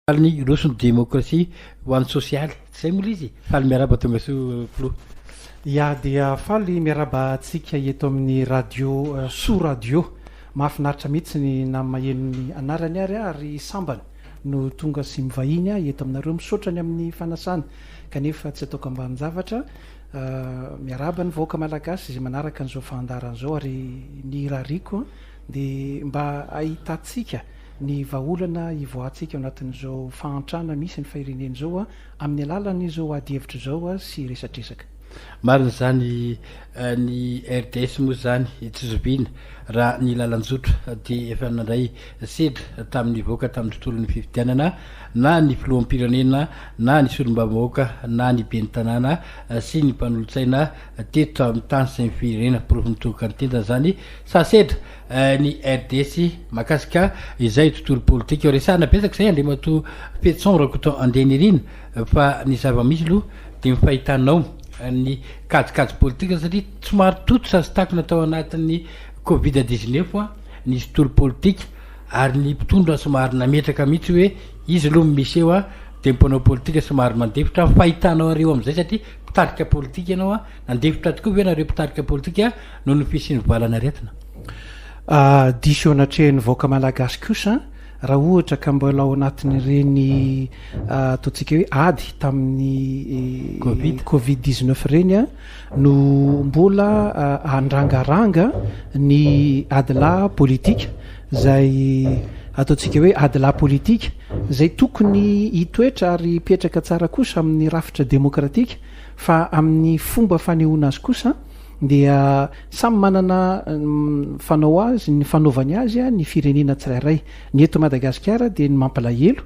Faly ny hiroso ny demokrasia ho an'ny sosialy. Tsy izay moa ilay izy? Faly miaraba tongasoa filoha. Ya dia faly miaraba antsika eto amin'ny radio soa radio. Mahafinaritra mihitsy ny na maheno ny anarany ary aho ry sambany no tonga sy mivahiny aho eto aminareo. Misaotra ny amin'ny fanasana kanefa tsy ataoko ambanin-javatra. Miaraba ny vahoaka malagasy izay manaraka an'izao fandaharana izao ary ny irariako dia mba hahitantsika ny vahaolana hivoahantsika ao anatin'izao fahantrana misy ny firenena izao amin'ny alalan'izao adihevitra izao sy resadresaka. Marina izany, ny RDS moa izany tsy zoviana raha ny lalan-jotra dia efa nandray sedra tamin'ny nivoaka tamin'ny tontolon'ny fifidianana na ny filoham-pirenena na ny solombavambahoaka na ny ben'ny tanàna sy ny mpanolotsaina teto amin'ny tany sy ny firenena, porofo mitohoka ny tendany izany fa sedra ny RDC mahakasika izay tontolo politika io. Resahana betsaka izay Andriamatoa Fetson Rakoto Andenirina fa ny zava-misy aloha dia ny fahitanao ny kajikajy politika satria somary tototra sy takona tao anatin'ny Covid dix-neuf ny tontolo politika ary ny mpitondra somary nametraka mihitsy hoe izy aloha ny miseho dia mpanao politika somary mandefitra. Fahitanao ireo amin'izay satria mpitarika politika ianao, nandefitra tokoa ve ianareo mpitarika politika? noho ny fisian'ny valan'aretina. Diso eo anatrehan'ny vahoaka malagasy kosa raha ohatra ka mbola ao anatin'ireny ataontsika hoe ady tamin'ny eh, covid 19 ireny a no mbola andrangaranga ny adilahy politika zay ataontsika hoe adilahy politika zay tokony hitoetra ary hipetraka tsara kosa amin'ny rafitra demokratika fa amin'ny fomba fanehoana azy kosa dia samy manana ny fanao azy ny fanaovany azy ny firenena tsirairay ny eto Madagasikara dia ny mampalahelo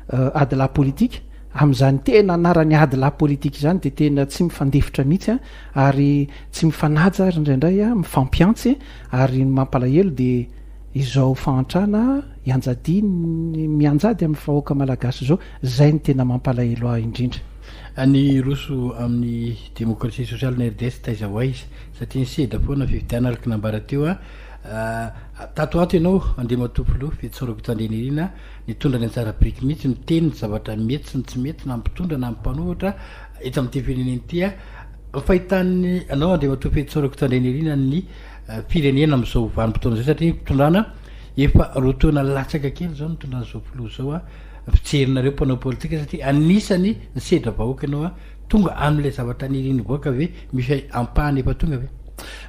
adilahy politika amin'izany tena anarany adilahy politika izany dia tena tsy mifandefitra mihitsy ary tsy mifanaja ary indraindray mifampiantsy ary ny mampalahelo dia izao fahantrana ianjadiany mianjady amin'ny vahoaka malagasy izao izay ny tena mampalahelo ahy indrindra Any hiroso amin'ny demokrasia sosialy ny RDS taiza ho aiza satria ny seda foana fifidianana araka ny nambara teo a Tato ho ato ianao Andriamatoa Filoha Fetso Rakotoandrianirina nitondra ny anjara biriky mihitsy miteny ny zavatra mety sy ny tsy mety na ny mpitondra na ny mpanohitra eto amin'ity firenena ity a Ny fahitan'ny anao Andriamatoa Fetso Rakotoandrianirina ny firenena amin'izao vanim-potoana izao satria ny fitondrana efa roa taona latsaka kely izao nitondran'izao Filoha izao a Mijery nareo mpanao politika satria anisany nisedra vahoaka ianao a! Tonga amin'ilay zavatra nirian'ny vahoaka ve misy ampahany efa tonga ve?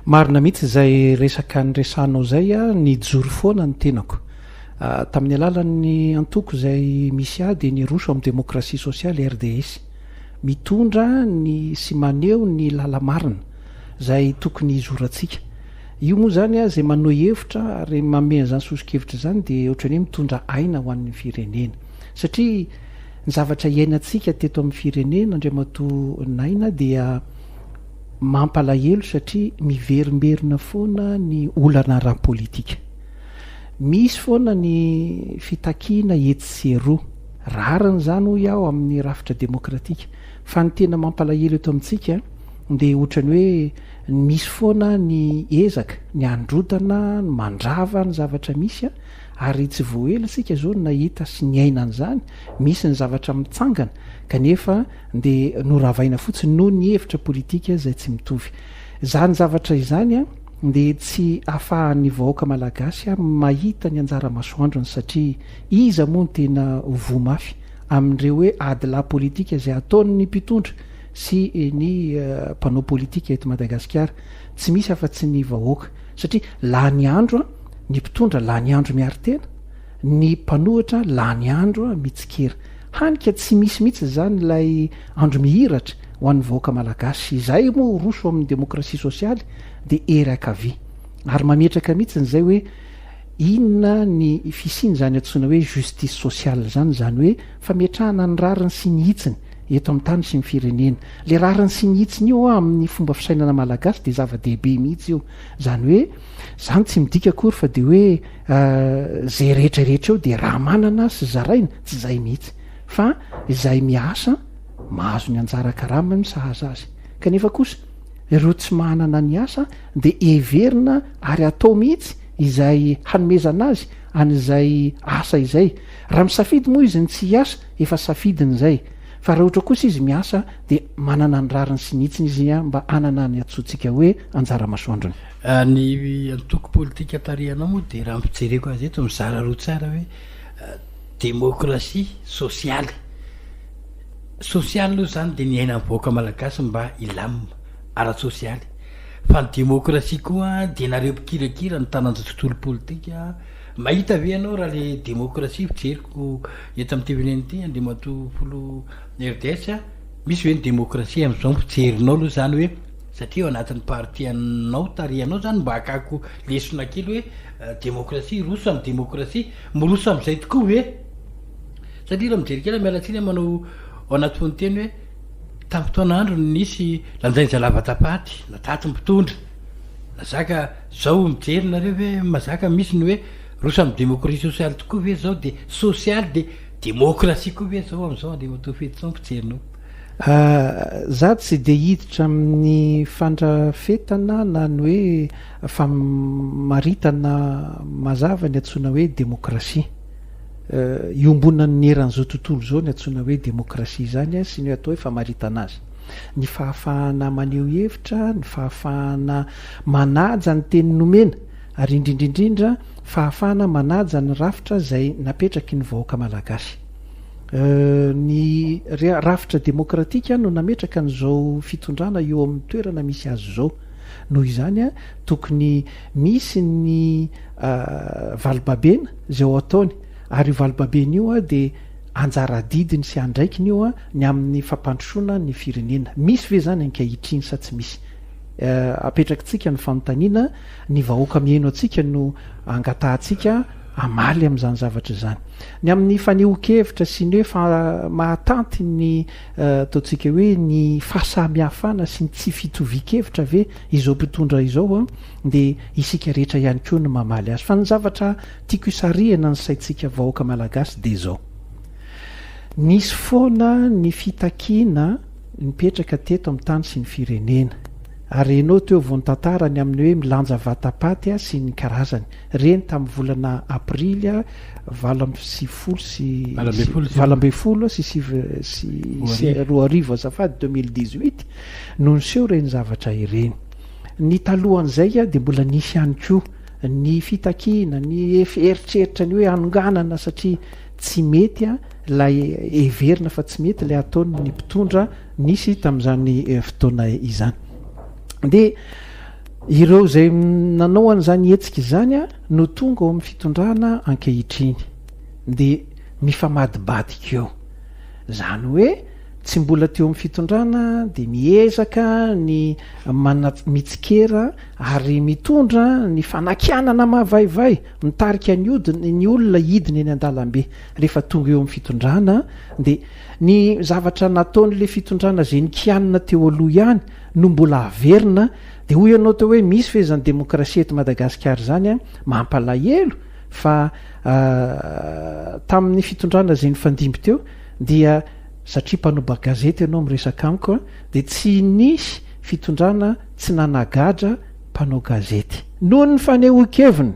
Marina mihitsy izay resaka niresahanao izay a! Nijoro foana ny tenako tamin'ny alalan'ny antoko izay misy ahy dia ny Roso amin'ny Demokrasia Sosialy, RDS. Mitondra ny sy maneho ny lala-marina izay tokony hizorantsika. Io moa izany izay manohy hevitra ary manome an'izany soso-kevitra izany dia ohatran'ny hoe mitondra aina ho an'ny firenena. Satria ny zavatra iainantsika teto amin'ny firenena Andriamatoa Naina dia mampalahelo satria miverimberina foana ny olana ara-politika. Misy foana ny fitakiana etsy sy eroa. Rariny izany hoy aho amin'ny rafitra demokratika. Fa ny tena mampalahelo eto amintsika dia ohatran'ny hoe Misy foana ny ezaka, ny handrotana, ny mandrava ny zavatra misy, ary tsy vao ela isika izao no nahita sy niaina an'izany, misy ny zavatra mitsangana kanefa dia noravaina fotsiny noho ny hevitra politika izay tsy mitovy. Izany zavatra izany dia tsy afahan'ny vahoaka malagasy mahita ny anjara masoandrony satria iza moa no tena voa mafy amin'ireo hoe ady lahy politika izay ataon'ny mpitondra sy ny mpanao politika eto Madagasikara, tsy misy afa tsy ny vahoaka satria lany andro ny mpitondra, lany andro miaro tena, ny mpanohitra lany andro mitsikera, hany ka tsy misy mihitsy izany ilay andro mihiratra ho an'ny vahoaka Malagasy, izay moa roso amin'ny demokrasia sosialy dia ery ankavia ary mametraka mihitsy izay hoe inona ny fisian'izany antsoina hoe justice sociale izany, izany hoe fametrahana ny rariny sy ny hitsiny. eto amin'ny tany sy ny firenena. Ilay rariny sy ny hitsiny io amin'ny fomba fisainana malagasy dia zava-dehibe mihitsy io. Izany hoe, izany tsy midika akory fa dia hoe izay rehetra rehetra eo dia raha manana sy zaraina, tsy izay mihitsy. Fa izay miasa, mahazo ny anjara karamany sahaza azy. Kanefa kosa, ireo tsy manana ny asa dia heverina ary atao mihitsy izay hanomezana azy an'izay asa izay. Raha misafidy moa izy ny tsy hiasa, Efa safidiny izay. Fa raha ohatra kosa izy miasa dia manana ny rariny sy ny hitsiny izy mba hanana ny antsointsika hoe anjara masoandrony. Ny antoko politika tarihanao moa dia raha ny fijereko azy eto mizara roa tsara hoe demokrasia, sosialy. Sosialy aloha izany dia ny iainan'ny vahoaka malagasy mba hilamina ara-tsosialy. Fa ny demokrasia koa dia nareo mpikirakira ny taranja tontolo politika. Mahita ve ianao raha le demokrasia fijeriko eto amin'ity firenena ity Andriamatoa Filoha RDS a, misy ve ny demokrasia amin'izao ny fijerinao aloha izany hoe satria ao anatin'ny parti anao tarihanao izany mba hakako lesona kely hoe demokrasia hiroso amin'ny demokrasia miroso amin'izay tokoa ve satria raha mijery kely aho miala tsiny aho manao ao anaty fononteny hoe tamin'ny fotoana androny nisy lanjain'izay lava tapaty na taty mpitondra na zaka Zao mijery nareo ve mazaka misy ny hoe rosa am democratie sociale tokoa ve zao de sociale de democratie koa ve zao amzao Andriamatoa Fetison mpijerinao. Za tsy dia hiditra amin'ny fandrafetana na ny hoe famaritana mazava ny antsoina hoe demokrasia iombonan'ny eran'izao tontolo izao ny antsoina hoe demokrasia izany sy ny atao hoe famaritana azy. ny fahafahana maneho hevitra, ny fahafahana manaja ny teny nomena ary indrindra indrindra fahafahana manaja ny rafitra izay napetraky ny vahoaka malagasy. Ny rafitra demokratika no nametraka an'izao fitondrana eo amin'ny toerana misy azy izao. Noho izany, tokony misy ny valibabena izay ho ataony ary io valibabena io dia Anjara adidiny sy andraikiny io ny amin'ny fampandrosoana ny firenena. Misy ve izany ankehitriny sa tsy misy? Apetrakitsika ny fanontaniana, ny vahoaka mihaino antsika no angatahantsika hamaly amin'izany zavatra izany. Ny amin'ny fanehoan-kevitra sy ny hoe mahatanty ny ataontsika hoe ny fahasamihafana sy ny tsy fitovian-kevitra ve izao mpitondra izao dia isika rehetra ihany koa no mamaly azy fa ny zavatra Tiako hisarihana ny saintsika vahoaka malagasy dia izao. Nisy foana ny fitakiana nipetraka teto amin'ny tany sy ny firenena. Ary henoy teo vao nitantara ny amin'ny hoe milanja vatapaty sy ny karazany. Reny tamin'ny volana aprily valo amby sivifolo sy valo ambin'ny folo sy sivy sy roa arivo azafady deux mille dix huit no niseho ireny zavatra ireny. Ny talohan'izay dia mbola nisy ihany koa. ny fitakiana, ny eritreritra ny hoe hanonganana satria tsy mety ilay heverina fa tsy mety ilay ataon'ny mpitondra nisy tamin'izany fotoana izany. Dia ireo izay nanao an'izany hetsika izany no tonga ao amin'ny fitondrana ankehitriny. Dia mifamadibadika eo. Izany hoe tsy mbola teo amin'ny fitondrana dia miezaka ny mitsikera ary mitondra ny fanakianana mavaivay mitarika ny odiny ny olona hidina eny an-dalambe rehefa tonga eo amin'ny fitondrana dia ny zavatra nataon'ilay fitondrana izay nikianina teo aloha ihany no mbola averina dia hoy ianao teo hoe misy ve izany demokrasia eto Madagasikara izany an mampalahelo fa tamin'ny fitondrana izay nifandimby teo dia satria mpanobagazety ianao miresaka amiko dia tsy nisy fitondrana tsy nanagadra mpanao gazety. Noho ny fanehoan-keviny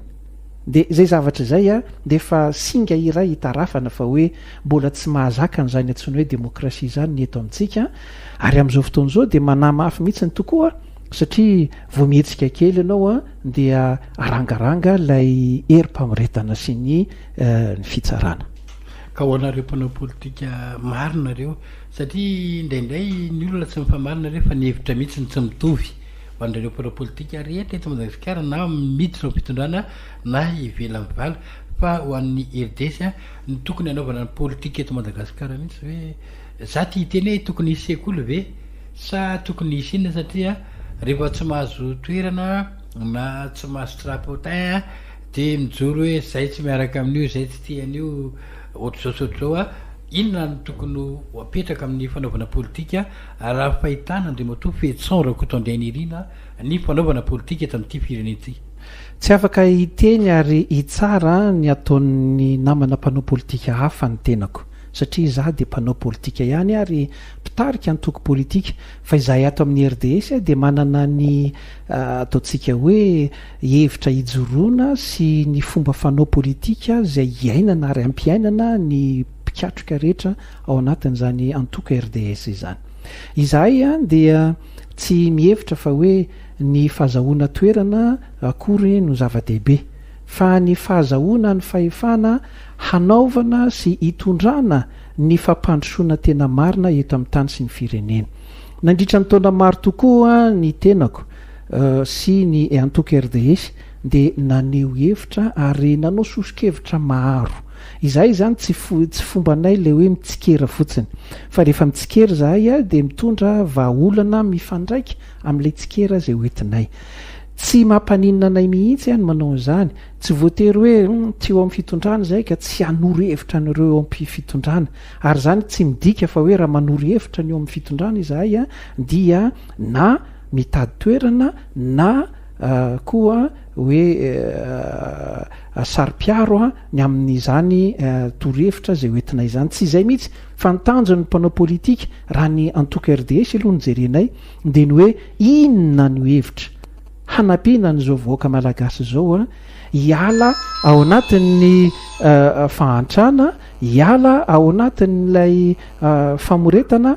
dia izay zavatra izay dia efa singa iray itarafana fa hoe mbola tsy mahazaka an'izany antsoina hoe demokrasia izany ny eto amintsika ary amin'izao fotoana izao dia manamafy mihitsy tokoa satria vao mihetsika kely ianao dia arangaranga ilay herim-pamoretana sy ny fitsarana. Ka ho anareo mpanao politika marina ireo Satria indraindray ny olona tsy mifamarina rehefa ny hevitra mihitsy no tsy mitovy. Ho an'ireo mpanao politika rehetra eto Madagasikara na miditra ao am-pitondrana na ivelan'ny vala. Fa ho an'ny RDC ny tokony hanaovana ny politika eto Madagasikara mihitsy ve? Za tia hiteny hoe tokony hisy sekoly ve? Sa tokony hisy inona satria rehefa tsy mahazo toerana na tsy mahazo trapotin dia mijoro hoe zay tsy miaraka amin'io, zay tsy tia an'io. Ohatr'izao sy ohatr'izao a! Inona no tokony ho apetraka amin'ny fanaovana politika raha fahitana Andriamatoa Fetison Rakotoandrianirina ny fanaovana politika eto amin'ity firenena ity? Tsy afaka hiteny ary hitsara ny ataon'ny namana mpanao politika hafa ny tenako satria izaho dia mpanao politika ihany ary mpitarika antoko politika fa izahay ato amin'ny RDS dia manana ny ataontsika hoe hevitra hijoroana sy ny fomba fanao politika izay iainana ary ampiainana ny mpikatroka rehetra ao anatin'izany antoko RDS izany. Izahay dia tsy mihevitra fa hoe ny fahazahoana toerana akory no zava-dehibe, fa ny fahazahoana ny fahefana hanaovana sy hitondrana ny fampandrosoana tena marina eto amin'ny tany sy ny firenena. Nandritra ny taona maro tokoa ny tenako, sy ny antoko RDS dia naneho hevitra ary nanao soso-kevitra maro. Izahay izany tsy tsy fombanay ilay hoe mitsikera fotsiny fa rehefa mitsikera izahay dia mitondra vahaolana mifandraika amin'ilay tsikera izay hoentinay. Tsy mampaninona anay mihitsy ny manao an'izany, tsy voatery hoe tsy eo amin'ny fitondrana izahay ka tsy hanoro hevitra an'ireo eo am-pitondrana ary izany tsy midika fa hoe raha manoro hevitra ny eo amin'ny fitondrana izahay dia na mitady toerana na koa hoe saro-piaro ny amin'izany torohevitra izay hoentinay izany. Tsy izay mihitsy fa ny tanjon'ny mpanao politika raha ny antoko RDH aloha no jerenay dia ny hoe inona no hevitra hanampiana an'izao vahoaka malagasy izao hiala ao anatin'ny fahantrana, hiala ao anatin'ilay famoretana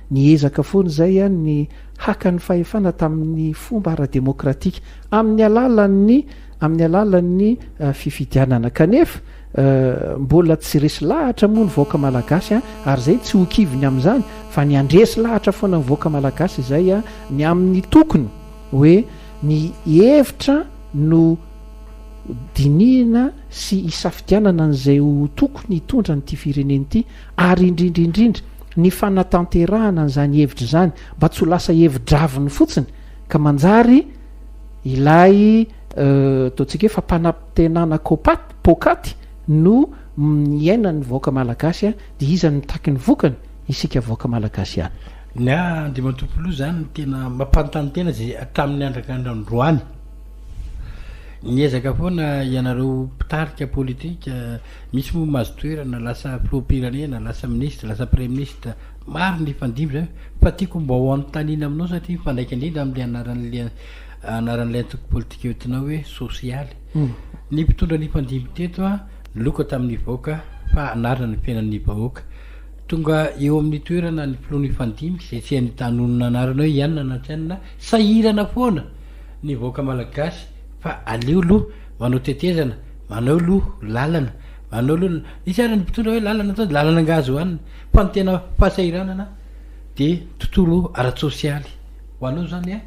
Niezaka foana izay ihany ny haka ny fahefana tamin'ny fomba ara-demokratika, amin'ny alalan'ny amin'ny alalan'ny fifidianana. Kanefa, mbola tsy resy lahatra moa ny vahoaka malagasy ary izay tsy ho kivy ny amin'izany fa ny handresy lahatra foana ny vahoaka malagasy izay ny amin'ny tokony hoe ny hevitra no dinihina sy hisafidianana an'izay ho tokony hitondra an'ity firenena ity ary indrindra indrindra ny fanatanterahana an'izany hevitra izany mba tsy ho lasa hevi-draviny fotsiny ka manjary ilay ataontsika hoe fampanantenana kopaty pokaty no niainan'ny vahoaka malagasy a dia iza ny mitaky ny vokany isika vahoaka malagasy ihany ny a andriamatompoloha izany no tena mampanontany tena izay hatramin'ny andrakandrandroany niezaka foana ianareo mpitarika politika Misy moa mahazo toerana, lasa filoham-pirenena, lasa minisitra, lasa praiminisitra, maro ny hifandimby izany fa tiako mba ho anontaniana aminao satria mifandraika indrindra amin'ilay anaran'ilay anaran'ilay antoko politika entinao hoe sosialy. Ny mpitondra nifandimby teto an, niloka tamin'ny vahoaka fa hanarina ny fiainan'ny vahoaka. Tonga eo amin'ny toerana ny filoha nifandimby izay tsy hainy tanonina anarana hoe ianona na tsy ianona, sahirana foana ny vahoaka malagasy fa aleo aloha manao tetezana, Manao lo lalana, manao lo lalana. Misy ary ny mpitondra hoe lalana atao, lalana angaha azo hohanina? Fa ny tena fahasahiranana dia tontolo ara-tsosialy. Ho anao izany an,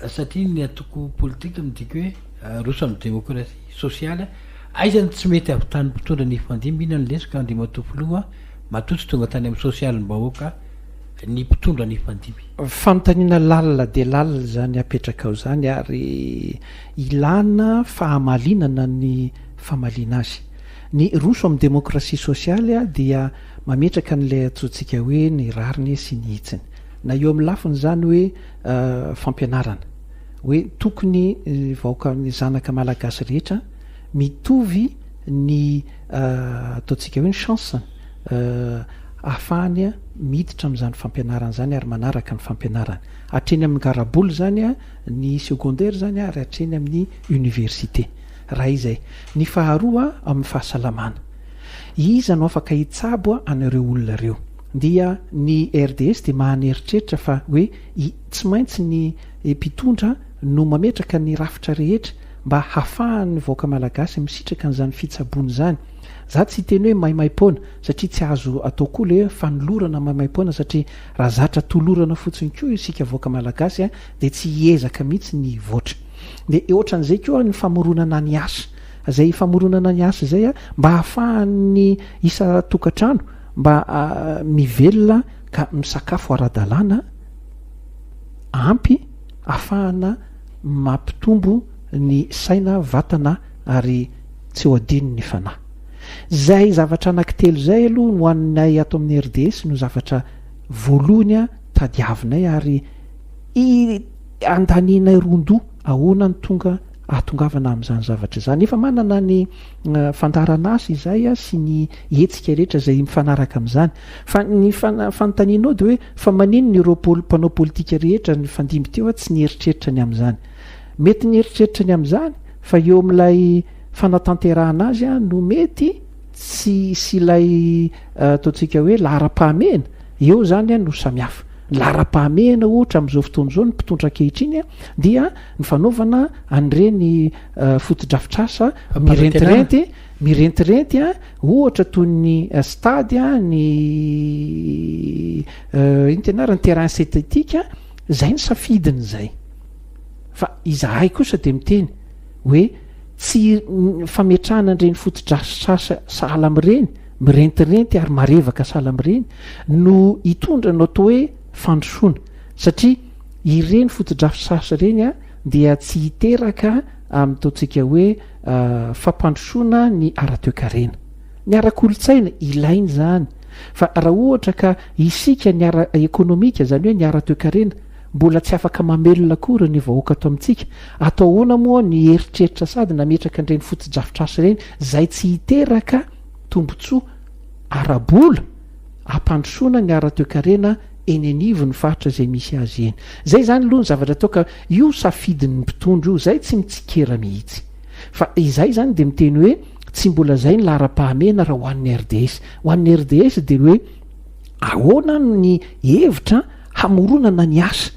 satria ny antoko politika midika hoe aroso amin'ny demokrasia sosialy an, aiza no tsy mety havitan'ny mpitondra nifandimby? Inona no lesoka Andriamatoa Filoha an? Matoa tsy tonga tany amin'ny sosialim-bahoaka ny mpitondra nifandimby. Fanontaniana lalina dia lalina izany apetrakao izany ary. Ilàna fahamalinana ny famaliana azy. Ny Roso amin'ny demokrasia sosialy dia mametraka an'ilay antsointsika hoe ny rariny sy ny hitsiny. Na eo amin'ny lafin'izany hoe fampianarana, hoe tokony ny vahoaka, ny zanaka malagasy rehetra mitovy ny ataontsika hoe ny chance-ny ahafahany miditra amin'izany fampianarana izany ary manaraka ny fampianarany. Hatreny amin'ny garabola izany. ny secondaire zany ary hatreny amin'ny université raha izay, ny faharoa amin'ny fahasalamana iza no afaka hitsabo an'ireo olona ireo dia ny RDS dia mahany eritreritra fa hoe i tsy maintsy ny mpitondra no mametraka ny rafitra rehetra mba hafahan'ny vahoaka malagasy misitraka an'izany fitsaboana izany za tsy hiteny hoe maimaipoana satria tsy azo atao koa le fanolorana maimaipoana satria raha zatra tolorana fotsiny koa isika vahoaka malagasy dia tsy hiezaka mihitsy ny hivoatra. Dia ohatran'izay koa ny famoronana ny asa. Izay famoronana ny asa izay mba hahafahan'ny isan-tokantrano mba mivelona ka misakafo ara-dalàna, ampy, ahafahana mampitombo ny saina, vatana ary tsy ho adino ny fanahy. Izay zavatra anankitelo izay aloha no anay ato amin'ny RDS no zavatra voalohany tadiavinay ary I andanianay ron-doha ahoana no tonga ahatongavana amin'izany zavatra izany? Efa manana ny fandaharan'asa izahay sy ny hetsika rehetra izay mifanaraka amin'izany. Fa ny fanontanianao dia hoe fa maninona ireo mpanao politika rehetra nifandimby teo tsy nieritreritra ny amin'izany? Mety nieritreritra ny amin'izany fa eo amin'ilay fanatanterahana azy no mety tsy hisy ilay ataontsika hoe laharam-pahamehana. Eo izany no samihafa. Ny laharam-pahamehana ohatra amin'izao fotoana izao ny mpitondra ankehitriny dia ny fanaovana an'ireny fotodrafitrasa mirentirenty mirentirenty ohatra toy ny stade, ny inona ty anarany, terrain synthétique, izay ny safidiny izay. Fa izahay kosa dia miteny hoe tsy fametrahana an'ireny fotodrafitrasa sahala amin'ireny mirentirenty ary marevaka sahala amin'ireny no hitondra ny atao hoe fandrosoana satria ireny fotodrafitrasa ireny dia tsy hiteraka amin'ny ataontsika hoe fampandrosoana ny ara-toekarena. Ny ara-kolontsaina ilaina izany fa raha ohatra ka isika ny ara-ekonomika izany hoe ny ara-toekarena Mbola tsy afaka mamelona akory ny vahoaka ato amintsika, atao ahoana moa ny eritreritra sady nametraka an'ireny fotodrafitrasa ireny izay tsy hiteraka tombontsoa ara-bola hampandrosoana ny ara-toekarena eny anivon'ny faritra izay misy azy eny. Izay izany aloha ny zavatra atao ka io safidin'ny mpitondra io izay tsy mitsikera mihitsy. Fa izahay izany dia miteny hoe tsy mbola izay ny laharam-pahamehana raha ho an'ny RDS. Ho an'ny RDS dia hoe ahoana ny hevitra hamoronana ny asa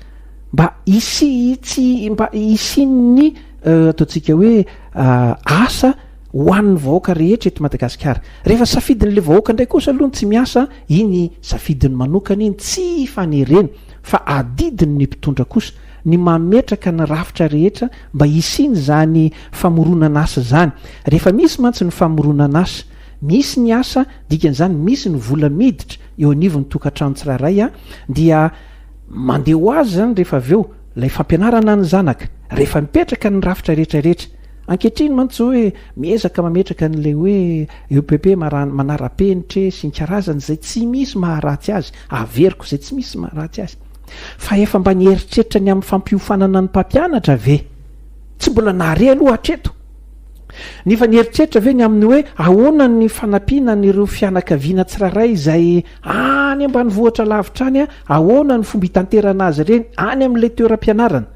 mba hisiitsy mba hisian'ny ataontsika hoe asa ho an'ny vahoaka rehetra eto Madagasikara. Rehefa safidin'ilay vahoaka indray kosa aloha ny tsy miasa, iny safidiny manokana iny, tsy fanerena fa adidin'ny mpitondra kosa ny mametraka ny rafitra rehetra mba hisian'izany famoronan'asa izany. Rehefa misy mantsy ny famoronan'asa, misy ny asa, dikan'izany misy ny vola miditra, eo anivon'ny tokantrano tsirairay dia mandeha ho azy izany rehefa avy eo ilay fampianarana ny zanaka rehefa mipetraka ny rafitra rehetra rehetra ankehitriny mantsy izao hoe miezaka mametraka an'ilay hoe EPP mara- manara-penitra e, sy ny karazany izay tsy misy maharatsy azy averiko izay tsy misy maharatsy azy fa efa mba nieritreritra ny amin'ny fampiofanana ny mpampianatra ve tsy mbola nahare aloha hatreto Nefa nieritreritra ve ny amin'ny hoe ahoana ny fanampiana an'ireo fianakaviana tsirairay izay any ambanivohitra lavitra any? Ahoana ny fomba hitanterana azy ireny any amin'ilay toeram-pianarana?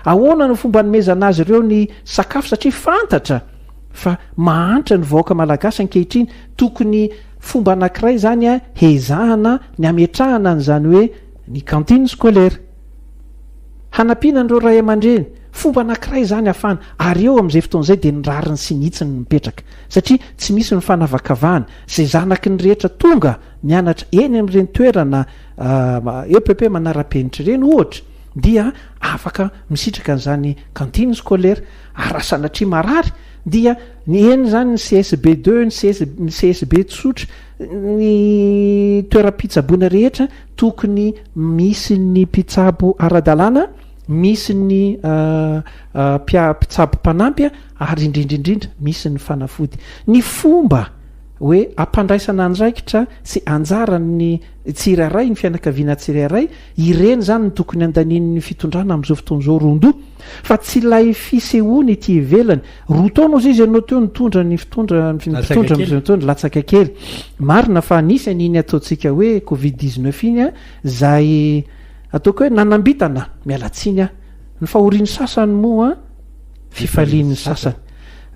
Ahoana no fomba anomezana azy ireo ny sakafo? Satria fantatra fa mahantra ny vahoaka malagasy ankehitriny, tokony fomba anankiray izany hezahana ny hametrahana an'izany hoe ny cantine scolaire. Hanampiana an'ireo ray aman-dreny, fomba anankiray izany ahafahana, ary eo amin'izay fotoana izay dia ny rariny sy ny hitsiny no mipetraka, satria tsy misy ny fanavakavahana, izay zanaky ny rehetra tonga mianatra eny amin'ireny toerana epp manara-penitra ireny ohatra dia afaka misitraka an'izany cantine scolaire, ary raha sanatria marary dia ny eny izany ny csb deux, ny csb tsotra, ny toeram-pitsaboana rehetra, tokony misy ny mpitsabo ara-dalàna, misy ny mpitsabo mpanampy ary indrindra indrindra misy ny fanafody. Ny fomba hoe ampandraisana andraikitra sy anjaran'ny tsirairay, ny fianakaviana tsirairay, ireny izany no tokony andanian'ny fitondrana amin'izao fotoana izao roa andoha fa tsy ilay fisehoany ety ivelany. Roa taona ozy izy ianao teo nitondra ny fitondra ny fitondra mitondra latsaka kely. Marina fa nisy an'iny ataontsika hoe Covid 19 iny a, zay ataoko hoe nanambitana miala tsiny aho. Ny fahorian'ny sasany moa fifalian'ny sasany.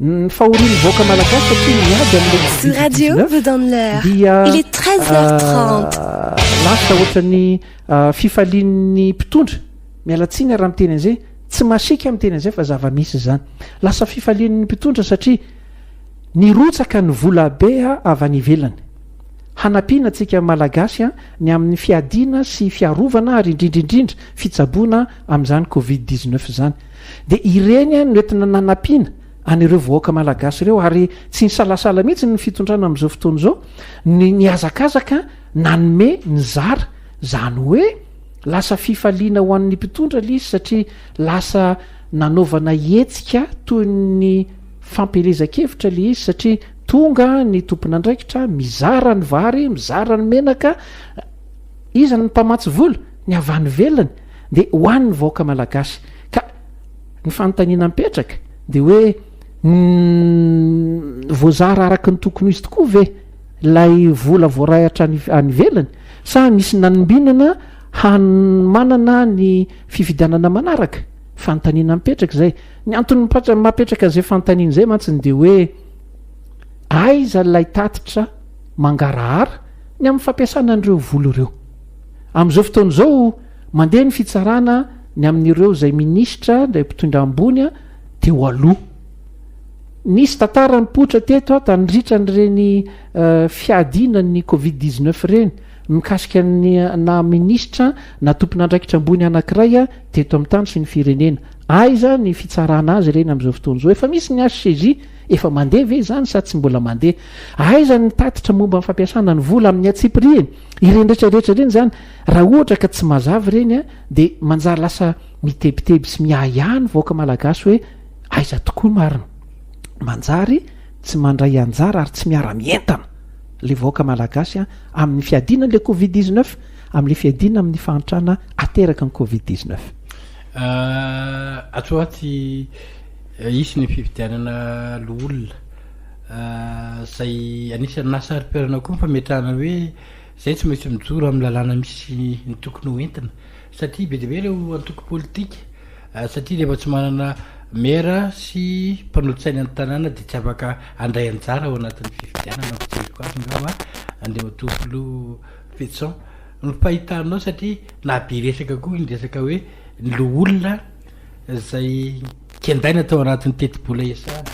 Ny fahorian'ny vahoaka malagasy satria miady amin'ilay radio vous donne l'heure. Dia il est 13h30. Euh, lasa ohatran'ny euh, fifalian'ny mpitondra. Miala tsiny raha miteny an'izay, tsy masiaka miteny an'izay fa zava-misy izany. Lasa fifalian'ny mpitondra satria nirotsaka ny vola be avy any ivelany. Hanampiana antsika Malagasy ny amin'ny fiadiana sy fiarovana ary indrindra indrindra fitsaboana amin'izany covid dix neuf izany. Dia ireny no entina nanampiana an'ireo vahoaka Malagasy ireo ary tsy nisalasala mihitsy ny fitondrana amin'izao fotoana izao ny nihazakazaka nanome nizara izany hoe Lasa fifaliana ho an'ny mpitondra ilay izy satria lasa nanaovana hetsika toy ny fampielezan-kevitra ilay izy satria tonga ny tompon'andraikitra mizara ny vary, mizara ny menaka, iza ny mpamatsy vola? Ny avy any ivelany dia ho an'ny vahoaka malagasy. Ka ny fanontaniana mipetraka dia hoe voazara araka ny tokony ho izy tokoa ve? ilay vola voaray hatrany any ivelany sa nisy nanombinana hanomanana ny fifidianana manaraka fanontaniana mipetraka izay ny antony mapetraka izay fanontaniana izay mantsiny dia hoe aiza ilay tatitra mangarahara ny amin'ny fampiasana an'ireo vola ireo amin'izao fotoana izao mandeha ny fitsarana ny amin'ireo izay minisitra indray mpitondra ambony a teo aloha Nisy tantara nipoitra teto ato handritra an'ireny fiadianan'ny covid dix neuf ireny, mikasika ny naha minisitra na tompon'andraikitra ambony anankiray teto amin'ny tany sy ny firenena. Aiza ny fitsarana azy ireny amin'izao fotoana izao? Efa misy ny HCJ, efa mandeha ve izany sa tsy mbola mandeha? Aiza ny tatitra momba ny fampiasana ny vola amin'ny antsipiriany? Ireny rehetra rehetra ireny izany, raha ohatra ka tsy mazava ireny dia manjary lasa mitebiteby sy miahiahy ny vahoaka malagasy hoe, Aiza tokoa marina. Manjary tsy mandray anjara ary tsy miara mientana le vahoaka malagasy amin'ny fiadiana an'le covid dix neuf, amin'le fiadiana amin'ny fahantrana ateraky ny covid dix neuf. Atsoa tsy hisy ny fifidianana loholona. Izay anisan'ny nahasaripierana koa ny fametrahana hoe izay tsy maintsy mijoro amin'ny lalàna misy ny tokony ho entina satria be dia be ireo antoko politika. satria rehefa tsy manana maire sy mpanolo-tsaina ny tanàna dia tsy afaka handray anjara ao anatin'ny fifidianana ny fijeriko azy angamba Andriamatoa Filoha Fetison ny fahitanao satria na be resaka koa ny resaka hoe ny loholona izay kendaina tao anatin'ny tetibola ESAD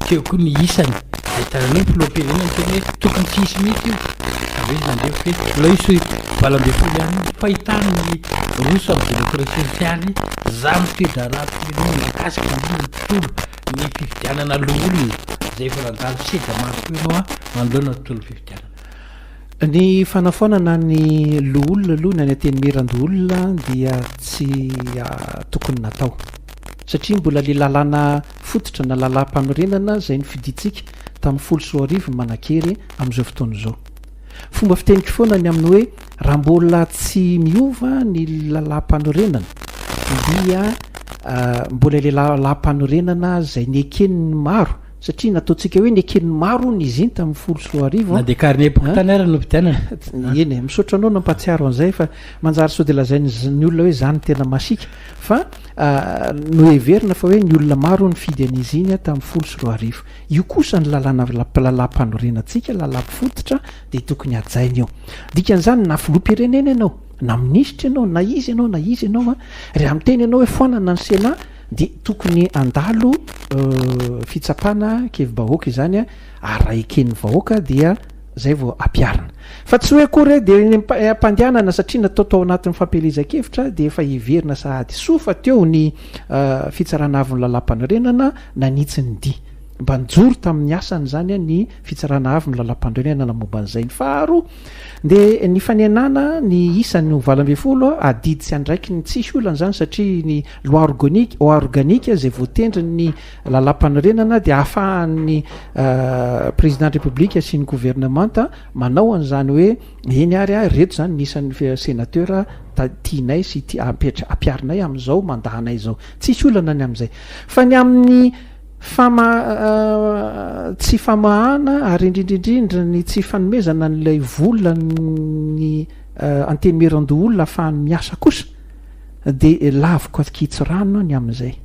Teo koa ny isany. Ahitana an'io ny filoham-pirenena niteny hoe tokony tsy hisy mihitsy io. Avy eo izy nandeha ohatra hoe mbola hisy valo ambin'ny folo ihany io. Fahitana ny roso amin'ny demokrasia sosialy, za mifidy raharaha firenena mikasika indrindra ny tontolo, ny fifidianana loholona izay efa nandalo seza maro koa ianao an, manoloana ny tontolon'ny fifidianana. Ny fanafoanana ny loholona aloha ny any Antenimierandoholona dia tsy tokony natao satria mbola ilay lalàna Fototra na lalàm-panorenana izay nofidintsika tamin'ny folo sy roa arivo ny manan-kery amin'izao fotoana izao. Fomba fiteniko foana ny amin'ny hoe raha mbola tsy miova ny lalàm-panorenana dia mbola ilay lalàm-panorenana izay neken'ny maro satria nataontsika hoe neken'ny maro hono izy iny tamin'ny folo sy roa arivo. Na dia carnet pokontany ary novidianana. Eny e, misaotra anao nampahatsiaro an'izay fa manjary sao dia lazain'ny olona hoe izany no tena masiaka fa Noheverina fa hoe ny olona maro nifidy an'izy iny tamin'ny folo sy roa arivo. Io kosa ny lalàna lalàmpanorenatsika, lalàm-pifototra dia tokony hajaina io. Dikan'izany na filoham-pirenena ianao, na minisitra ianao, na iza ianao, na iza ianao, raha miteny ianao hoe foanana ny Sénat dia tokony handalo fitsapana kevi-bahoaka izany ary raha eken'ny vahoaka dia Zay vao ampiharina. Fa tsy hoe akory hoe dia ny ampandehanana satria natao tao anatin'ny fampielezan-kevitra dia efa heverina sahady soa fa teo ny Fitsarana Avon'ny Lalampanorenana nanitsy ny dihy. Mba nijoro tamin'ny asany izany ny Fitsarana Avon'ny Lalampanorenana momba an'izay. Ny faharoa dia ny fanenana ny isany ho valo ambin'ny folo, adidy sy andraikiny. Tsisy olana izany satria ny Loi organique, organique, izay voatendrin'ny Lalampanorenana dia ahafahan'ny Président de République sy ny Gouvernemanta manao an'izany hoe eny ary ah reto izany ny isan'ny Sénateur tianay sy ampiarinay amin'izao mandahanay izao. Tsisy olana ny amin'izay. Fa ny amin'ny fama tsy famahana ary indrindrindrindra ny tsy fanomezana an'ilay vola ny antenimierandoholona ahafahany miasa kosa dia laviko aky tsy rano ny amin'izay.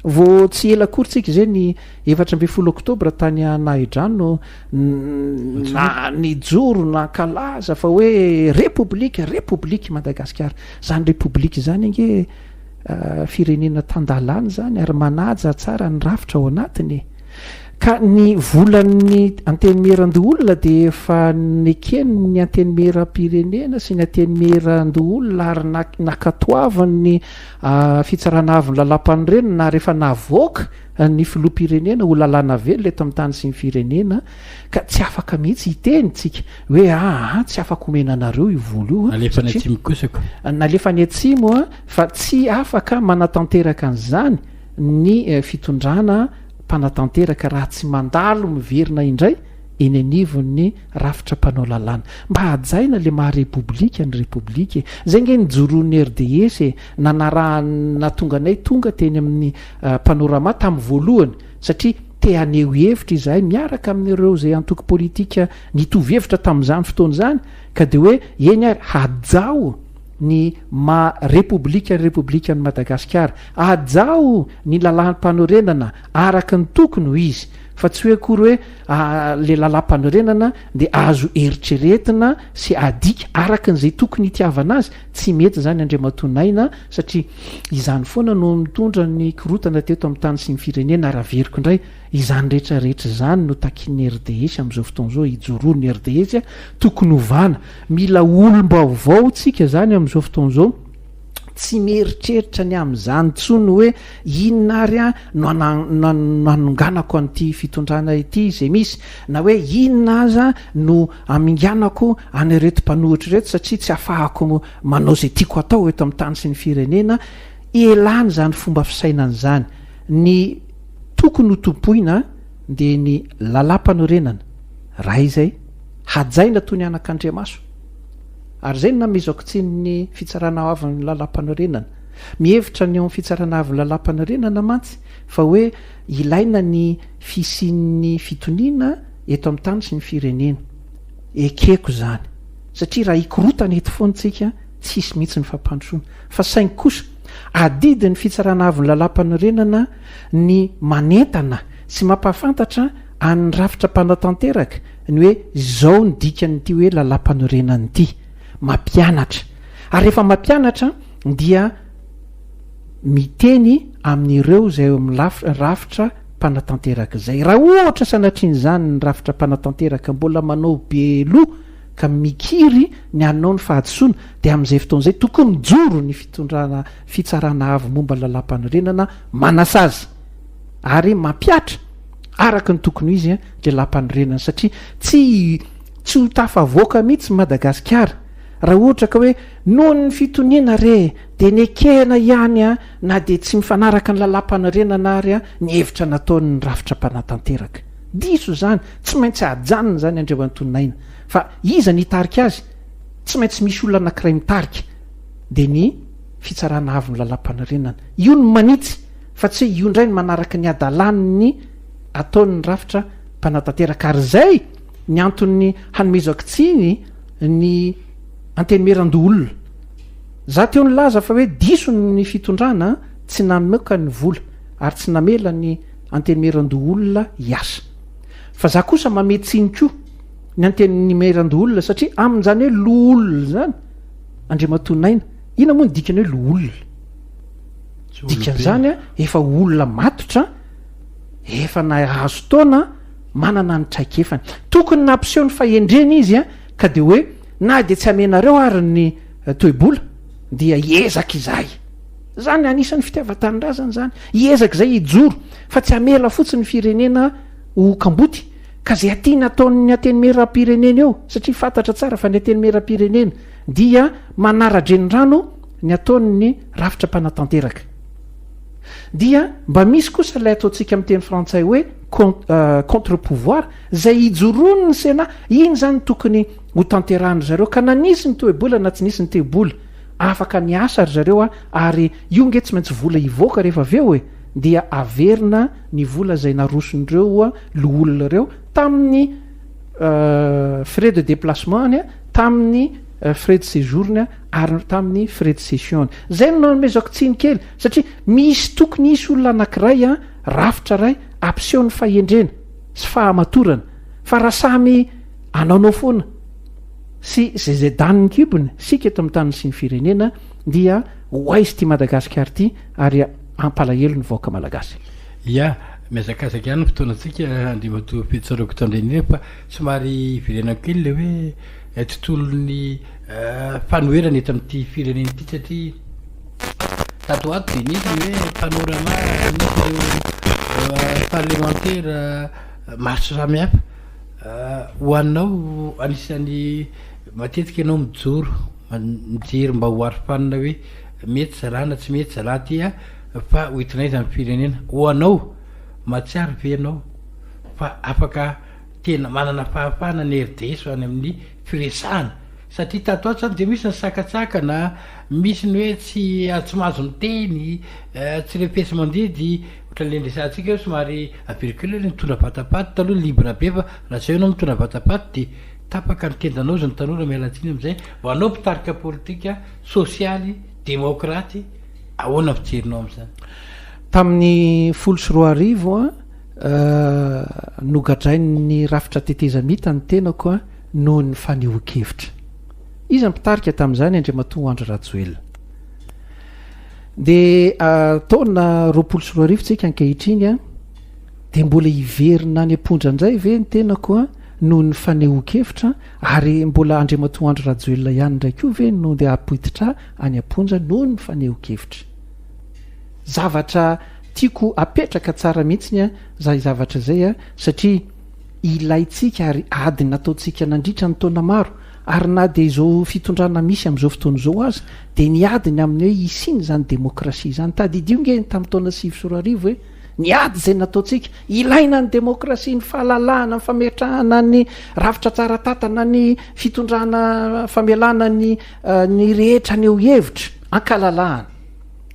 Vao tsy ela akory tsika izay ny efatra ambin'ny folo oktobra tany Anahidrano na nijoro nankalaza fa hoe repoblika, repoblika i Madagasikara. Izany repoblika izany ange firenena tan-dalàna izany ary manaja tsara ny rafitra ao anatiny e. Ka ny volan'ny antenimieran-doholona dia efa neken'ny antenimieram-pirenena sy ny antenimieran-doholona ary nakatoavin'ny Fitsarana avon'ny Lalàmpanorenana ary efa navoaka ny Filoham-pirenena ho lalàna velona eto amin'ny tany sy ny firenena ka tsy afaka mihitsy hiteny isika hoe aa tsy afaka omena anareo io vola io Nalefa any atsimo kosa ko. Nalefa any atsimo fa tsy afaka manatanteraka an'izany ny fitondrana mpanatanteraka raha tsy mandalo miverina indray eny anivon'ny Rafitra mpanao lalàna. Mba hajaina le maha repoblika ny repoblika e! Zay nge nijoroan'ny RDS e! Nanarahan nahatonga anay tonga teny amin'ny panorama tamin'ny voalohany satria te haneho hevitra izahay miaraka amin'ireo zay antoko politika nitovy hevitra tamin'izany fotoana izany ka de hoe eny ary hajao ny maha repoblika ny repoblikan'i Madagasikara. Hajao ny lalàm panorenana. Araka ny tokony ho izy, fa tsy hoe akory hoe ilay lalàmpanorenana dia azo eritreretina sy adika araka an'izay tokony hitiavana azy. Tsy mety izany Andriamatoa Naina satria izany foana no nitondra ny korontana teto amin'ny tany sy ny firenena ary averiko indray, izany rehetra rehetra izany no takian'ny RDS amin'izao fotoana izao hijoroan'ny RDS, tokony hovana, mila olom-baovao tsika izany amin'izao fotoana izao. Tsy mieritreritra ny amin'izany intsony hoe inona ary aho no hanonganako an'ity fitondrana ity izay misy, na hoe inona aza no haminganako an'ireto mpanohitra ireto satria tsy afahako manao izay tiako atao eto amin'ny tany sy ny firenena. Elany izany fomba fisainana izany. Ny tokony ho tompoina dia ny lalam-panorenana. Raha izay, hajaina toy ny anakandriamaso. Ary izay no namezako tsiny ny Fitsarana Avin'ny Lalàmpanorenana. Mihevitra ny ao amin'ny Fitsarana Avin'ny Lalàmpanorenana mantsy fa hoe ilaina ny fisian'ny fitoniana eto amin'ny tany sy ny firenena. Ekeko izany, satria raha hikorotana eto foana isika, tsy hisy mihitsy ny fampandrosoana. Fa saingy kosa, adidin'ny Fitsarana Avin'ny Lalàmpanorenana ny manentana sy mampahafantatra An'ny rafitra mpanao tanteraka ny hoe izao ny dikan'ity hoe Lalampanorenana ity, mampianatra. Ary rehefa mampianatra dia miteny amin'ireo izay eo amin'ny rafitra mpanatanteraka izay. Raha ohatra sanatrian'izany ny rafitra mpanatanteraka mbola manao be loha ka mikiry ny hanao ny fahadisoana dia amin'izay fotoana izay tokony mijoro ny fitondrana fitsarana avo momba Lalampanorenana manasazy ary mampihatra araka ny tokony ho izy dia lampanorenana satria tsy tsy ho tafavoaka mihitsy Madagasikara raha ohatra ka hoe noho ny fitoniana re dia nekena ihany na dia tsy mifanaraka ny lalampanorenana ary ny hevitra nataon'ny rafitra mpanatanteraka. Diso izany, tsy maintsy ajanona izany Andriamatonin'Aina fa iza ny hitarika azy? Tsy maintsy misy olona anankiray mitarika dia ny Fitsarana Avon'ny Lalampanorenana. Io no manitsy. Fa tsy hoe io indray no manaraka ny hadalan' ny ataon' ny rafitra mpanatanteraka, ary izay ny anton' ny hanomezako tsiny ny Antenimierandoholona. Izaho teo nilaza fa hoe diso ny fitondrana tsy namoaka ny vola ary tsy namela ny Antenimierandoholona hiasa. Fa izaho kosa mamehy tsiny koa ny Antenimierandoholona satria amin' izany hoe loholona izany Andriamatoa Naina, inona moa ny dikany hoe loholona? Dikan'izany, efa olona matotra, efa nahazo taona, manana ny traikefany. Tokony nampiseho ny fahendreny izy ka dia hoe, na dia tsy amenareo ary ny toe-bola, dia hiezaka izahay. Izany, anisan'ny fitiavan-tanindrazana izany. Hiezaka izahay hijoro, fa tsy hamela fotsiny ny firenena ho kamboty. Ka izay tiana ataon'ny Antenimierampirenena eo, satria fantatra tsara fa ny Antenimierampirenena dia manara-drenirano, ny ataon'ny rafitra mpanatanteraka. Dia mba misy kosa ilay ataontsika amin'ny teny frantsay hoe contre pouvoir izay ijoroan'ny Sénat, iny izany no tokony ho tanterahin-dry zareo ka na nisy ny toe-bola na tsy nisy ny toe-bola afaka niasa ry zareo ary io nge tsy maintsy vola hivoaka rehefa avy eo e! dia averina ny vola izay naroson'ireo loholona ireo tamin'ny frais de déplacement-ny, tamin'ny frais de séjour-ny. ary tamin'ny frais de session-ny. Izay no nanomezako tsiny kely, satria misy tokony hisy olona anankiray, rafitra iray hampiseho ny fahendrena sy fahamatorana, fa raha samy anaonao foana sy izay izay daniny kibony isika eto amin'ny taniny sy ny firenena dia ho aiza ity Madagasikara ity ary hampalahelo ny vahoaka malagasy. Ia, mihazakazaka ihany ny fotoanantsika, andriamatoa Fitsaroko Tandrenirefa, somary hiverenako kely ilay hoe tontolon'ny. fanoherana eto amin'ity firenena ity satria tato ho ato dia nisy ny hoe panorama nisy ireo euh, parlemantera euh, maro sy samihafa euh, ho anao anisan'ny matetika ianao mijoro mijery mba ho arofanina hoe mety zalana tsy mety zala tya fa ho itinay zany firenena ho anao mahatsiaro ve ianao fa afaka tena manana fahafahana ny rds any amin'ny firesahana satria tato ato zany dia misy ny sakantsakana, misy ny hoe tsy tsy mahazo miteny, tsy refesi-mandidy, ohatran'ny le niresahantsika hoe somary averiko kely hoe mitondra vatapaty taloha libre be fa raha zao ianao mitondra vatapaty dia tapaka ny tendanao hozy ny tanora miala tsiny amin'izay vao anao mpitarika politika sosialy demaokraty ahoana ny fijerinao amin'izany? Tamin'ny folo sy roa arivo a! Nogadrain'ny rafitra tetezamita ny tenako noho ny fanehoan-kevitra. Iza no mpitarika tamin'izany? Andriamatoa Andry Rajoelina. Dia taona roapolo sy roa arivo tsika ankehitriny, dia mbola hiverina any am-pondra indray ve ny tenako noho ny fanehoan-kevitra ary mbola Andriamatoa Andry Rajoelina ihany indray koa ve no dia hapoititra any am-ponja noho ny fanehoan-kevitra? Zavatra Tiako apetraka tsara mihitsy a zay zavatra zay a satria ilaintsika ary ady nataontsika nandritra ny taona maro ary na dia izao fitondrana misy amin'izao fotoana izao aza dia niady ny amin'ny hoe hisiana izany demokrasia izany. Tadidio nge tamin'ny taona sivy sy roa arivo hoe niady izay nataontsika. Ilaina ny demokrasia, ny fahalalahana, ny fametrahana ny rafitra tsara tantana, ny fitondrana famelana ny ny rehetra haneho hevitra, ankalalahana.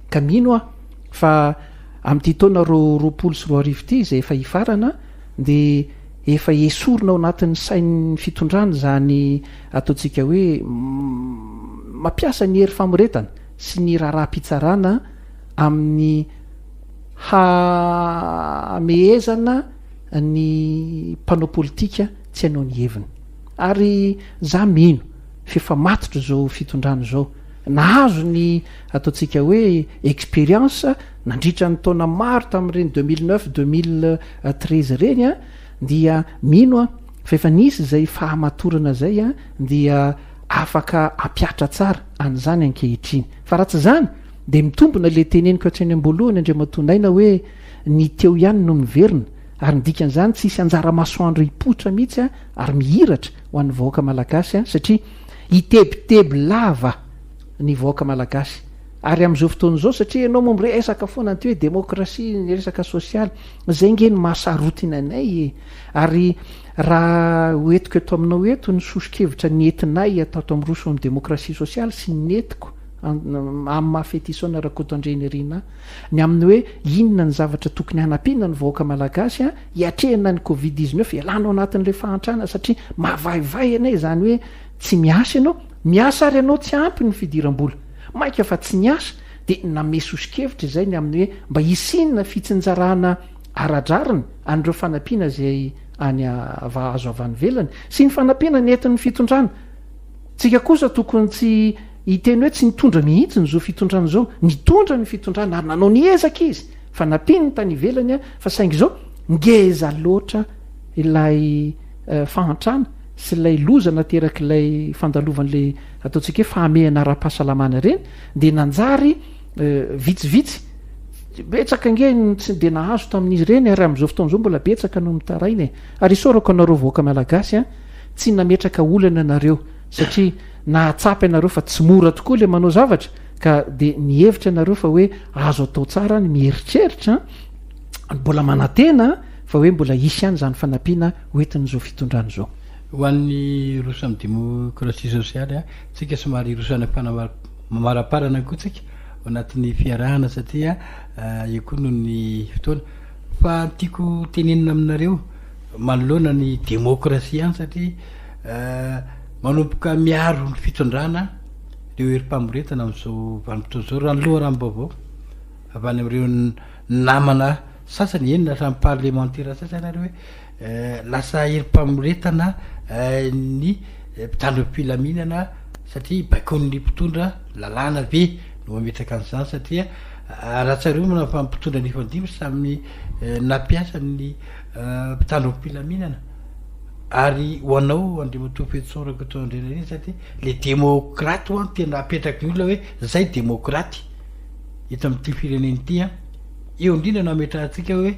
Ka mino aho. Fa amin'ity taona roa roapolo sy roa arivo ity izay efa hifarana dia efa esorina ao anatin'ny sain'ny fitondrana izany ataontsika hoe mampiasa ny hery famoretana sy ny raharaham-pitsarana amin'ny hamehezana ny mpanao politika tsy hanao ny heviny. Ary za mino f'efa matotra izao fitondrana izao. Nahazo ny ataontsika hoe expérience nandritra ny taona maro tamin'ireny deux mille neuf, deux mille treize ireny dia mino aho fa efa nisy izay fahamatorana izay dia afaka hampiatra tsara an'izany ankehitriny. Fa raha tsy izany dia mitombina ilay teneniko hatreny am-boalohany Andriamatoa Naina hoe ny teo ihany no miverina ary ny dikan'izany tsy hisy anjara masoandro hipoitra mihitsy ary mihiratra ho an'ny vahoaka malagasy satria hitebiteby lava ny vahoaka malagasy ary amin'izao fotoana izao satria ianao moa miresaka foana an'ity hoe demokrasia ny resaka sosialy izay nge ny mahasarotina anay e ary raha hoentiko eto aminao eto ny soso-kevitra ny entinay atato amin'ny roso amin'ny demokrasia sosialy sy ny entiko amin'ny mafetisaona rakoto andrenirina ny amin'ny hoe inona ny zavatra tokony hanampiana ny vahoaka malagasy a Hiatrehina ny covid dix neuf, ialana ao anatin'ilay fahantrana satria mavaivay anay izany hoe tsy miasa ianao, miasa ary ianao tsy ampy ny fidiram-bola. Mainka fa tsy niasa dia namehy soso-kevitra izay ny amin'ny hoe mba hisiana fitsinjarana ara-drariny an'ireo fanampiana izay any azo avy any ivelany sy ny fanampiana nentin'ny fitondrana. Tsika kosa tokony tsy Hiteny hoe tsy nitondra mihitsy ny zo fitondrana izao. Nitondra ny fitondrana ary nanao ny ezaka izy fa nampiany ny tany ivelany fa saingy izao ngeza loatra ilay fahantrana sy ilay loza naterak'ilay fandalovan'ilay ataontsika hoe fahamehana ara-pahasalamana ireny dia nanjary vitsivitsy betsaka nge ny tsy dia nahazo tamin'izy ireny ary amin'izao fotoana izao mbola betsaka no mitaraina e. Ary isaorako anareo vahoaka malagasy a, tsy nametraka olana nareo. satria nahatsapa ianareo fa tsy mora tokoa ilay manao zavatra ka dia nihevitra ianareo fa hoe azo atao tsara ny mieritreritra mbola manantena fa hoe mbola hisy ihany izany fanampiana hoentin'izao fitondrana izao ho an'ny roso amin'ny demokrasia sosialy a tsika somary hiroso any am-panamaraparana koa tsika ao anatin'ny fiarahana satria io koa noho ny fotoana fa ny tiako tenenina aminareo manoloana ny demokrasia ihany satria Manomboka miaro ny fitondrana ireo herim-pamoretana amin'izao vanim-potoana izao raha ny loharanom-baovao avy any amin'ireo namana sasany, eny na hatramin'ny parlemantera sasany ary hoe lasa herim-pamoretana ny mpitandro ny filaminana satria baikoin'ny mpitondra lalàna ve no mametraka an'izany satria raha tsarovana fa ny mpitondra nifandimby samy nampiasa ny mpitandro ny filaminana. Ary ho anao Andriamatoa Fetso Rakotoandrianariza dia ilay demokraty ho'a no tena apetraky ny olona hoe izay demokraty eto amin'ity firenena ity an. Eo indrindra no ametrahantsika hoe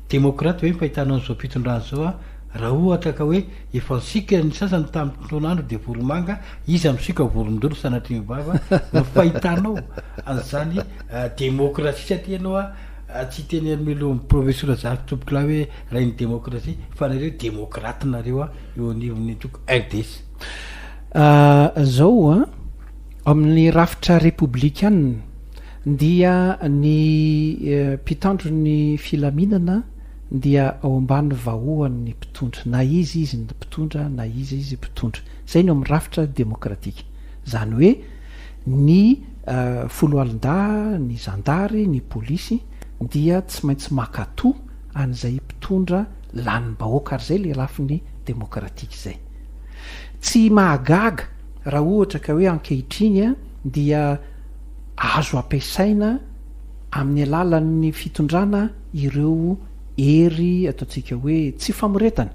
demokraty ve ny fahitana an'izao fitondrana izao an. Raha ohatra ka hoe efa nisioka ny sasany tamin'ny fotoan'andro dia voromanga, iza misioka vorondolo sanatria mivava? no fahitanao an'izany demokrasia satria ianao an, Tsy teny Hermelon'ny Province Rajary Tompokolahy hoe Rain'ny Demokrasia fa nareo Demokraty nareo eo anivon'ny antoko RDS. Zao an, amin'ny rafitra Repoblikana dia ny mpitandro ny filaminana dia ao ambany vahoan'ny mpitondra, na iza izy ny mpitondra na iza izy mpitondra. Zay no amin'ny rafitra demokratika. Zany hoe. Ny foloalindahy, ny zandary, ny polisy dia tsy maintsy makato an'izay mpitondra lanim-bahoaka ary izay ilay lafiny demokratika izay. Tsy mahagaga raha ohatra ka hoe ankehitriny dia azo ampiasaina amin'ny alalan'ny fitondrana ireo hery ataontsika hoe tsy famoretana,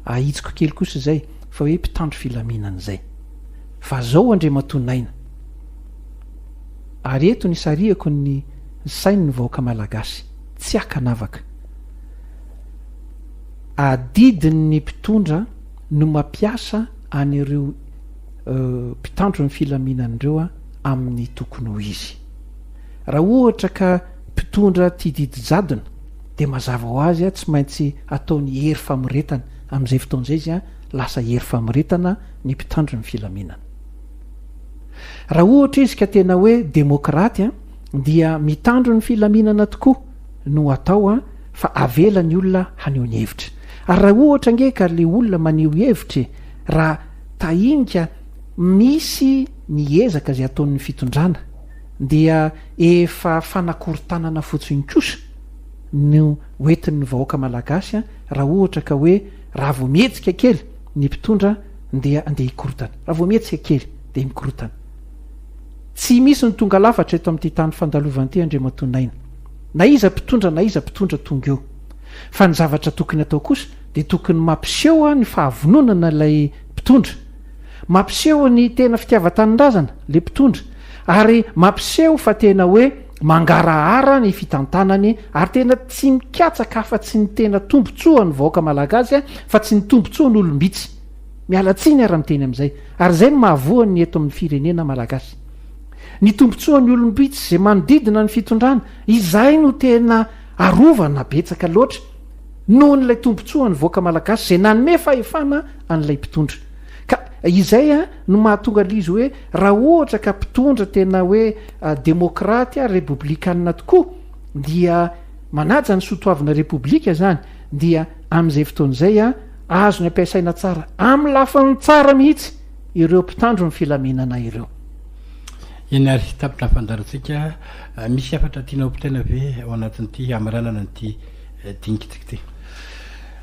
ahitsiko kely kosa izay, fa hoe mpitandro filaminana izay. Fa zao Andriamatoa Naina. Ary eto nisarihako ny sain ny vahoaka Malagasy. Tsy akanavaka. Adidin ny mpitondra no mapiasa an ireo mpitandro ny filaminan ireo amin ny tokony ho izy. Raha ohatra ka mpitondra tia didy jadona dia mazava ho azy an tsy maintsy ataony hery famoretana. Amin izay fotoana izay izy an lasa hery famoretana. ny mpitandro ny filaminana. Raha ohatra izy ka tena hoe demokraty dia mitandro ny filaminana tokoa no atao fa avela ny olona haneho ny hevitra. Ary raha ohatra ange ka le olona maneho hevitra e, raha tahinga misy ny ezaka izay ataon'ny fitondrana dia efa fanakorontanana fotsiny kosa no hoentin'ny vahoaka malagasy raha ohatra ka hoe raha vao mihetsika kely Ny mpitondra ndeha andeha hikorontana. Raha vao mihetsika kely dia mikorontana. Tsy misy ny tonga lafatra eto amin'ity tany fandalovana ity Andriamatoa Naina. Na iza mpitondra na iza mpitondra tonga eo. Fa ny zavatra tokony atao kosa dia tokony mampiseho ny fahavononana ilay mpitondra. Mampiseho ny tena fitiavan-tanindrazana ilay mpitondra. Ary mampiseho fa tena hoe. Mangarahara ny fitantanany ary tena tsy mikatsaka afa-tsy ny tena tombontsoan' ny vahoaka malagasy fa tsy ny tombontsoan' olom-bitsy. Miala tsiny ara miteny amin'izay. Ary izay no mahavoa ny eto amin'ny firenena malagasy. Ny tombontsoan'ny olom-bitsy izay manodidina ny fitondrana, izay no tena arovana betsaka loatra noho an'ilay tombontsoan'ny vahoaka malagasy izay nanome fahefana an'ilay mpitondra. Ka izay no mahatonga l'izy hoe raha ohatra ka mpitondra tena hoe demokraty ary repoblikanina tokoa dia manaja ny sotoavina repoblika zany dia amin'izay fotoana izay azony ampiasaina tsara amin'ny lafiny tsara mihitsy ireo mpitandro ny filaminana ireo. Eny ary, tapitra ny fandaharantsika. Misy hafatra tianao ho potaina ve ao anatin'ity hamaranana an'ity dinikitsika ity?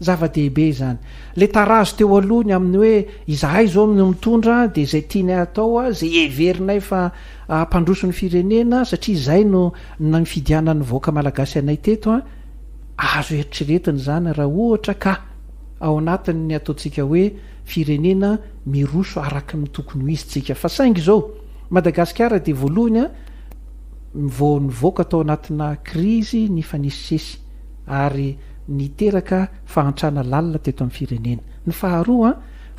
Zava-dehibe izany. Ilay tarazo teo aloha ny amin'ny hoe izahay izao no mitondra dia izay tianay hatao, izay heverinay fa hampandroso ny firenena satria izay no nifidianan'ny vahoaka malagasy anay teto. Azo eritreretina izany raha ohatra ka ao anatin'ny ataontsika hoe firenena miroso araka ny tokony ho izy tsika. Fa saingy izao, Madagasikara dia voalohany vao nivoaka tao anatina krizy nifanesisesy. ary niteraka fahantrana lalina teto amin'ny firenena. Ny faharoa,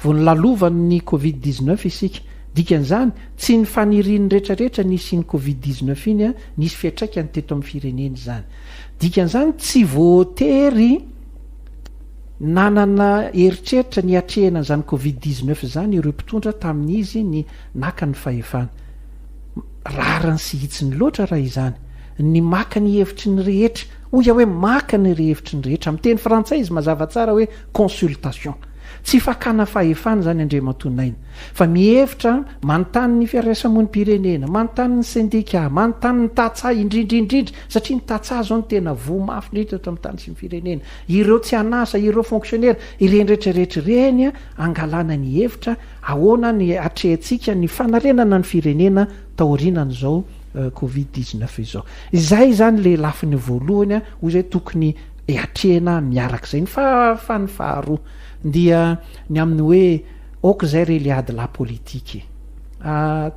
vao nolalovan'ny covid dix-neuf isika. Dikan'izany, tsy ny fanirian'ny rehetrarehetra ny hisian'ny covid dix-neuf iny, nisy fiantraikany teto amin'ny firenena izany. Dikan'izany, tsy voatery nanana eritreritra ny hiatrehana an'izany covid dix-neuf izany ireo mpitondra tamin'izy ny naka ny fahefana. rariny sy hitsiny loatra raha izany. Ny maka ny hevitry ny rehetra. Hoy aho hoe maka ny rehevitry ny rehetra. Amin'ny teny frantsay izy mazava tsara hoe consultation. Tsy fakana fahefana izany Andriamatoa Naina. Fa mihevitra, manontany ny fiarahasamonim-pirenena, manontany ny sendika, manontany ny tantsaha indrindra indrindra, satria ny tantsaha izao no tena voa mafy indrindra eto amin'ny tany sy ny firenena. Ireo tsy an'asa, ireo fonksionera, ireny rehetra rehetra ireny angalana ny hevitra, Ahoana ny atrehintsika ny fanarenana ny firenena taorianan'izao covid dix neuf izao? Izay izany ilay lafiny voalohany hoy izay tokony hatrehina miaraka izay. Ny fahafany faharoa dia ny amin'ny hoe aoka izay re ilay ady lahy politika e!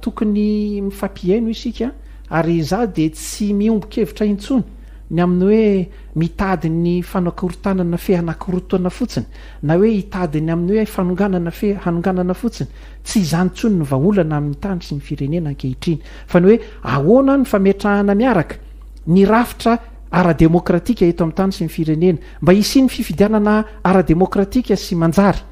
tokony mifampihaino isika ary izaho dia tsy miombon-kevitra intsony ny amin'ny hoe mitady ny fanakorontanana fehy anakorontana fotsiny na hoe hitady ny amin'ny hoe fanonganana fe hanonganana fotsiny, tsy izany intsony no vahaolana amin'ny tany sy ny firenena ankehitriny, fa ny hoe ahoana ny fametrahana miaraka ny rafitra ara-demokratika eto amin'ny tany sy ny firenena, mba hisian'ny fifidianana ara-demokratika sy manjary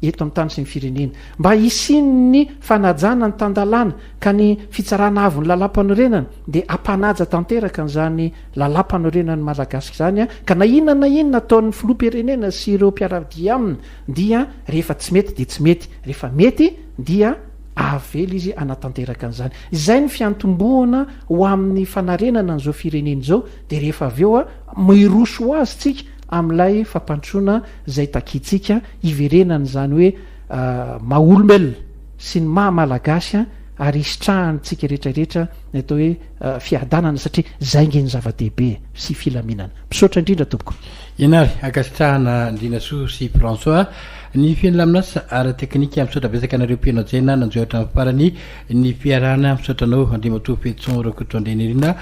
eto amin'ny tany sy ny firenena, mba hisian'ny fanajana ny tan-dalàna, ka ny Fitsarana Avon'ny Lalàmpanorenana dia hampanaja tanteraka an'izany Lalampanorenan'ny Malagasy izany an, ka na inona na inona ataon'ny Filoham-pirenena sy ireo mpiara-dia aminy dia rehefa tsy mety dia tsy mety, rehefa mety dia avela izy hanatanteraka an'izany. Izay no fiantombohana ho amin'ny fanarenana an'izao firenena izao dia rehefa avy eo miroso ho azy tsika amin'ilay fampandrosoana izay takiantsika hiverenany izany hoe maha-olombelona sy ny maha-Malagasy ary hisitrahan'ny tsika retraretra ny atao hoe fiadanana satria zay nge ny zava-dehibe sy filaminana. Misaotra indrindra tompoko. Ianary ankasitrahana Andrianasoa sy François ny filaminasa ara teknika misaotra betsaka anareo mpihaino hajaina nanjo hatramin'ny farany ny fiarahana misaotra anao Andriamatoa Fetson Rakotoandrianirina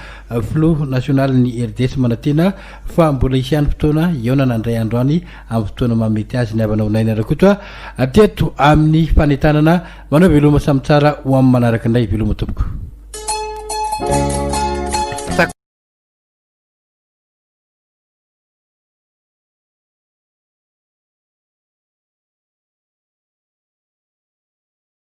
filoha nasionaly ny RDS manatena fa mbola hisy ihany fotoana hiaonana andray andro any amin'ny fotoana mahamety azy ny havanao Naina Rakoto teto amin'ny fanentanana Manao veloma samy tsara ho amin'ny manaraka indray veloma tompoko.